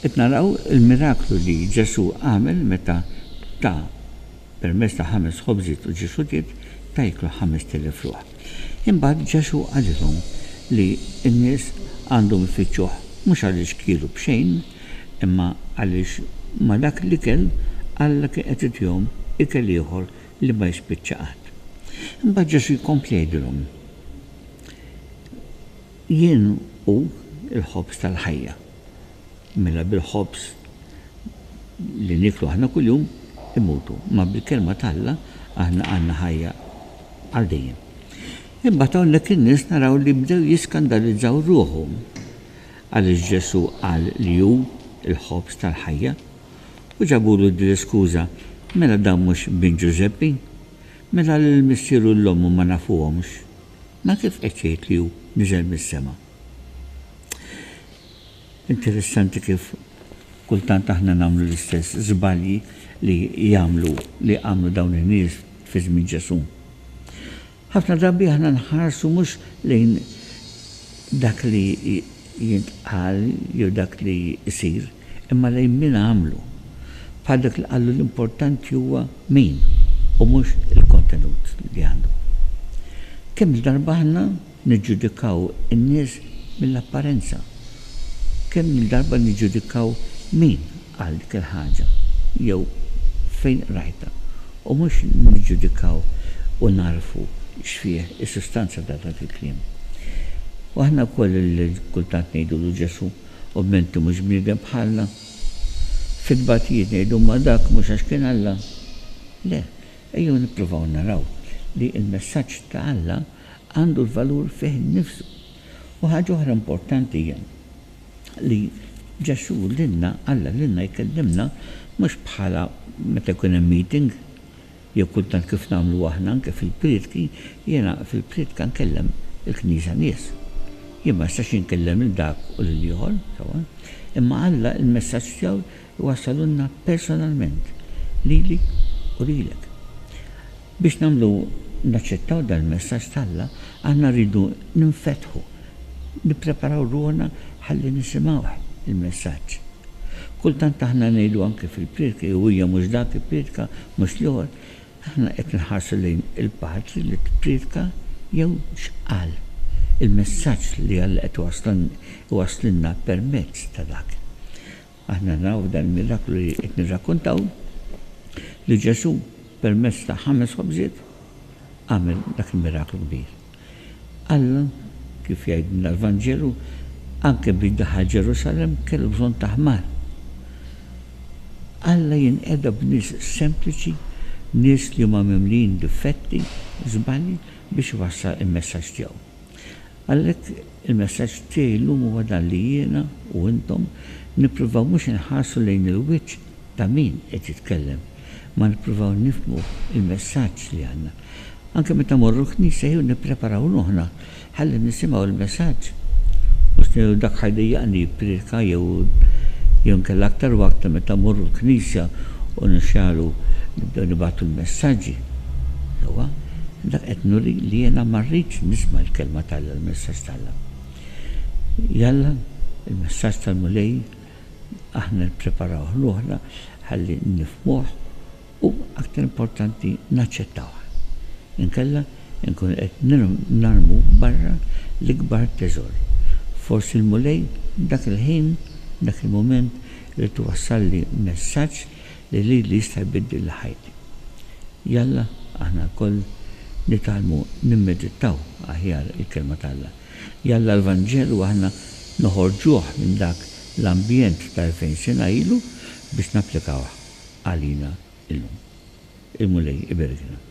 Qed naraw il-miraklu li Ġesù għamel meta ta permezz ta' ħames ħobżiet u ġiswiet ta jieklu ħamest elef ruħ. Imbagħad Ġesù qalilhom li n-nies għandhom ifittxuh mhux għaliex kielu b'xejn, imma għaliex ma' dak l-ikel Alla kien qed itihom ikel ieħor li ma jispiċċa qatt. Imbagħad Ġesù jkompli jgħidilhom, Jien hu l-ħobż tal-ħajja. Mela bil-ħobż li nieklu aħna kuljum immutu, imma bil-Kelma ta' Alla aħna għandna ħajja għal dejjem. Imbagħad hawnhekk in-nies naraw li bdew jiskandalizzaw ruħhom għaliex Ġesù qal li hu l-ħobż tal-ħajja u ġabulu din l-iskuża, mela dan mhux bin Ġużeppi? Mela l-missieru u l-ommu ma nafuhomx? Ma kif qed jgħid li hu niżel mis-sema? Interessanti kif kultant aħna nagħmlu l-istess żbalji li jagħmlu li għamlu dawn in-nies fi żmien Ġesù. Ħafna drabi aħna nħarsu mhux lejn dak li jintqal jew dak li jsir, imma lejn min għamlu, bħal dak li qallu l-importanti huwa min u mhux il-kontenut li għandu. Kemm-il darba aħna niġġudikaw in-nies mill-apparenza? Kemm-il darba niġġudikaw min qal dik il-ħaġa jew fejn qrajtha u mhux niġġudikaw u nagħrfu x'fih is-sustanza ta' dak il-kliem? U aħna wkoll li kultant ngħidulu Ġesù, U b'ment li mhux bniedem bħalna. Fit-tbatijiet ngħidu imma dak mhux għax kien Alla. Le, ejjew nippruvaw naraw li l-messaġġ ta' Alla għandu l-valur fih innifsu. U ħaġa oħra importanti hija li Ġesù lilna, Alla lilna jkellimna mhux bħala meta jkun hemm meeting. Jew kultant kif nagħmlu aħna anke fil-prietki, jiena fil-prietka nkellem il-Knisja nies. Jien ma nistax inkellem lil dak u lil ieħor, sewwa. Imma Alla il-messaġġ tiegħu jwassalulna personalment, lili u lilek. Biex nagħmlu naċċettaw dan il-messaġġ t'Alla, aħna rridu ninfetħu Nippreparaw ruħna ħalli nisimgħuh il-messaġġ. Kultant aħna ngħidu anke fil-prietka, jew hija mhux dak ipprietka, mhux l-ieħor, aħna qed inħarsu lejn il-patri li tprietka jew x'qal. Il-messaġġ li Alla qed iwasslilna permezz ta' dak. Aħna naraw f'dan il-miraklu li qed nirrakkuntaw li Ġesù permezz ta' ħames ħobżiet għamel dak il-miraklu kbir. Alla, kif jgħidilna l-Vanġelu, anke biex daħal Ġerusalemm kellu bżonn ta' ħmar. Alla jinqeda b'nies sempliċi, nies li huma mimlijin difetti, żbalji biex iwassal il-messaġġ tiegħu. Għalhekk, il-messaġġ tiegħi llum huwa dan li jiena u intom nippruvaw mhux inħarsu lejn il-wiċċ ta' min qed jitkellem, ma nippruvaw nifhmu l-messaġġ li għandna. Anke meta mmorru l-knisja jew nippreparaw ruħna ħalli nisimgħu l-messaġġ, mhux ngħidu dak ħa jdejjaqni jippriedka jew jew inkella aktar u aktar meta mmorru l-knisja u nixgħalu nibdew nibagħtu l-messaġġi. Sewwa, dak qed nuri li jiena ma rridx nisma' l-kelma t'Alla, l-messaġġ t'Alla. Jalla, il-messaġġ tal-Mulej aħna nippreparawh ruħna ħalli nifhmuh u, aktar importanti, naċċettawh. Inkella nkunu qed narmu barra l-ikbar teżor. Forsi l-Mulej dak il-ħin, dak il-mument, irid iwassalli messaġġ li lili jista' jbiddilli ħajti. Jalla aħna lkoll nitgħallmu nimmedittaw aħjar il-Kelma t'Alla. Jalla l-Vanġelu aħna noħorġuh minn dak l-ambjent ta' elfejn sena ilu biex napplikawh għalina llum. Il-Mulej iberikna.